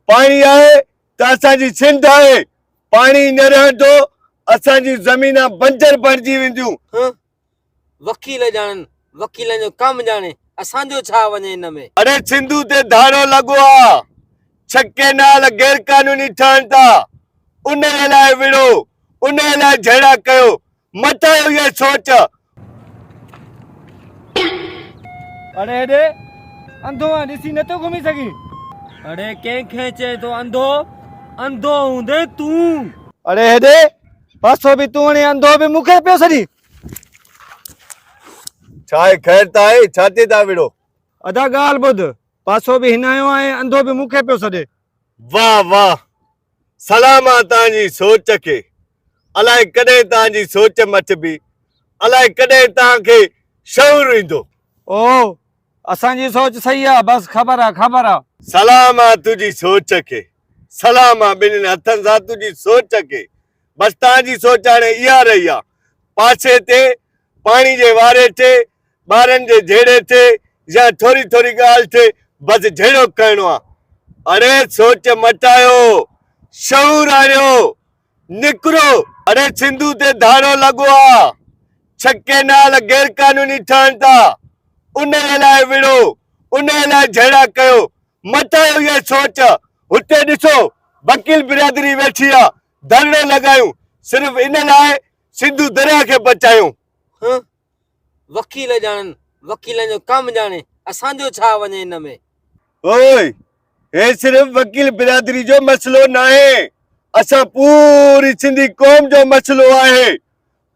پاڻي آهي ته اسان جي سنڌ آهي، پاڻي نه رهندو، اسان جون زمينان بنجر بڻجي وينديون. هه وڪيل ڄاڻن، وڪيلن جو ڪم ڄاڻي، اسان جو ڇا وڃي ان ۾. اڙي سنڌو تي ڌاڙو لڳو آ، ڇهه ڪئنال غيرقانوني ٺهن ٿا، انهيء لاء وڙهو، انهيء لاء جهيڙا ڪيو، مٽايو اها سوچ. اڙي هيڏي انڌو آن ڏسي نٿو گهمي سگهين. اڙي ڪنهن کي چئين ٿو انڌو انڌو هوندين تون. اڙي هيڏي پاسو به تون هڻين انڌو به مون کي پيو سڏين. ڇا هي خير ته آهي ڇاتي ٿا وڙهو. ادا ڳالهه ٻڌ پاسو به هنايو آهي انڌو به مون کي پيو سڏي. واه واه سلام آ تان جي سوچ کي الاء ڪڏهن تان جي سوچ مچبي الاء ڪڏهن تان کي شعور ايندو. او اسان جي سوچ صحيح آ بس خبر آ خبر آ. سلام آ تنهنجي سوچ کي. سلام آ ٻنهين هٿن سان تنهنجي سوچ کي. بس توهان جي سوچ هاڻي اها رهي آ. پاسي تي پاڻي جي واري تي ٻارن جي جهيڙي تي يا ٿوري ٿوري ڳالهه تي بس جهيڙوڪ ڪرڻو آ. اڙي سوچ مٽايو، شعور آڻيو، نڪرو. اڙي سنڌو تي ڌاڙو لڳو آ، ڇڪي نال غير قانوني ٺهن ٿا، انهي لاء وڙهو، انهي لاء جهيڙا ڪيو، مٽايو اها سوچ. هتي ڏسو وڪيل برادري ويٺي آ ڌرڻو لڳايون صرف ان لاء سنڌو درياهه کي بچايون. هه وڪيل ڄاڻن وڪيلن جو ڪم ڄاڻي اسان جو ڇا وڃي ان ۾. هوء هي صرف وڪيل برادري جو مسئلو ناهي اسان پوري سنڌي قوم جو مسئلو آهي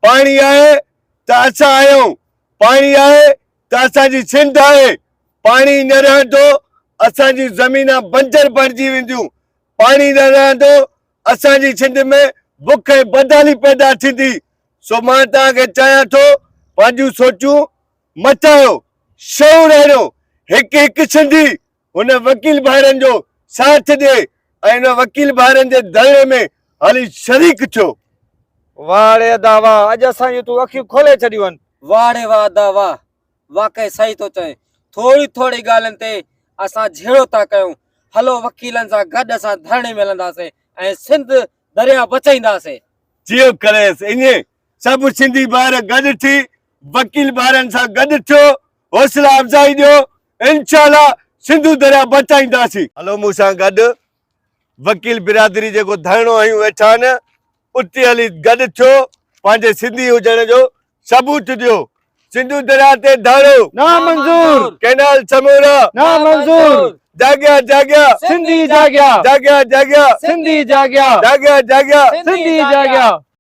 پاڻي آهي ته اسان آهيون پاڻي آهي ته اسان جي سنڌ آهي، پاڻي نه رهندو اسان جون زمينان بنجر بڻجي وينديون، پاڻي نه رهندو اسان جي سنڌ ۾ بک ۽ بدحالي پيدا ٿيندي، سو مان توهان کي چاهيان ٿو پنهنجون سوچون مٽايو، شعور آڻيو، هڪ هڪ سنڌي هن وڪيل ڀائرن جو ساٿ ڏي ۽ ان وڪيل ڀائرن جي ڌرڻي ۾ هلي شريڪ ٿيو. واهه ڙي ادا واهه، اڄ اسان جون تون اکيون کولي ڇڏيون. واهه ڙي واهه ادا واهه، واقعي صحيح ٿو چوين، ٿوري ٿوري ڳالهين تي اسان جهيڙو ٿا ڪيون، هلو وڪيلن سان گڏ اسان ڌرڻي ۾ هلنداسين ۽ سنڌ درياهه بچائينداسين. جيئن ڪريس ايئن سڀ سنڌي ڀائر گڏ ٿي وڪيل ڀائرن سان گڏ ٿيو، حوصلا افزائي ڏيو، انشاء الله سنڌو درياء بچائينداسين. هلو مون سان گڏ وڪيل برادري جيڪو ڌرڻو هنيون ويٺا آهن اتي هلي گڏ ٿيو پنهنجي سنڌي هجڻ جو ثبوت ڏيو سنڌو درياء تي ڌرڻو نا منظور ڪينال سمورا نا منظور جاڳيا جاڳيا سنڌي جاڳيا جاڳيا جاڳيا سنڌي جاڳيا جاڳيا جاڳيا سنڌي جاڳيا.